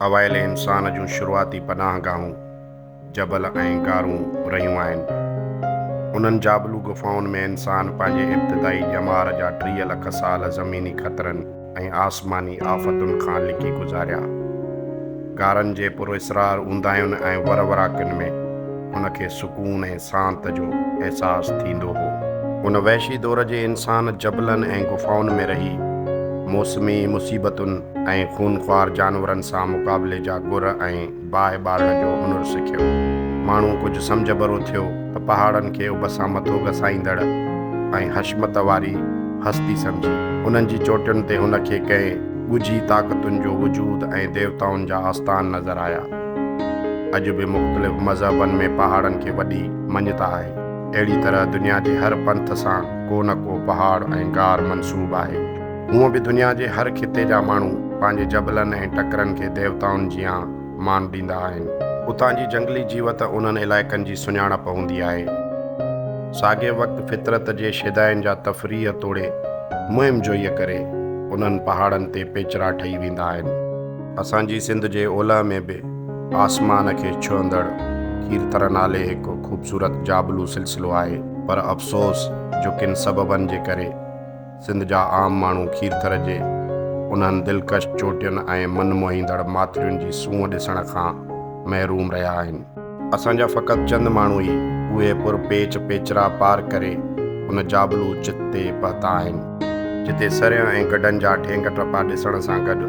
اوائل انسان جون شروعاتي پناهگاهون جبل ۽ غارون رهيون آهن. انهن جابلو غفائن ۾ انسان پنهنجي ابتدائي ڄمار جا ٽيهه لک سال زميني خطرن ۽ آسماني آفتن کان لڪي گذاريا. غارن جي پراسرار اونداهين ۽ وروراڪين ۾ هن کي سڪون ۽ سانت جو احساس ٿيندو هو. ان وحشي دور جي انسان جبلن ۽ غفائن ۾ رهي موسمي مصيبتن ۽ خونخوار جانورن سان مقابلي جا گر ۽ باهه ٻارڻ جو هنر سکيو. ماڻهو ڪجهه سمجهه ڀرو ٿيو ته پهاڙن کي اڀ سان مٿو گسائيندڙ ۽ حشمت واري هستي سمجهي، انهن جي چوٽين تي هن کي ڪنهن ڳجهي طاقتن جو وجود ۽ ديوتائن جا آستان نظر آيا. اڄ به مختلف مذهبن ۾ پهاڙن کي وڏي مڃتا آهي. اهڙي طرح دنيا جي هر پنٿ سان ڪو نه ڪو پهاڙ ۽ غار منسوب آهي. هونء به دنيا جي هر خطي جا ماڻهو پنهنجي جبلن ۽ ٽڪرن کي ديوتائن جيان مان ڏيندا آهن. اتان جي جنگلي جيوت انهن علائقن جي سڃاڻپ هوندي آهي. ساڳئي وقت فطرت جي شيدائين جا تفريح توڙي مهم جوئيء ڪري انهن پهاڙن تي پيچرا ٺهي ويندا آهن. اسان جي سنڌ جي اولهه ۾ به آسمان کي ڇهندڙ کيرٿر نالي هڪ خوبصورت جابلو سلسلو آهي، پر افسوس جو ڪن سببن جي ڪري سنڌ جا عام ماڻهو کيرٿر جي انهن دلڪش چوٽين ۽ من موهيندڙ ماٿرين جي سونهن ڏسڻ کان محروم رهيا آهن. اسان جا فقط چند ماڻهو ئي اهي پر پيچ پيچرا پار ڪري ان جابلو چت تي پهتا آهن، جتي سرهين ۽ گڊن جا ٺينگ ٽپا ڏسڻ سان گڏ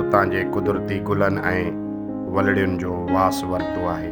اتان جي قدرتي گلن ۽ ولڙين جو واس ورتو آهي.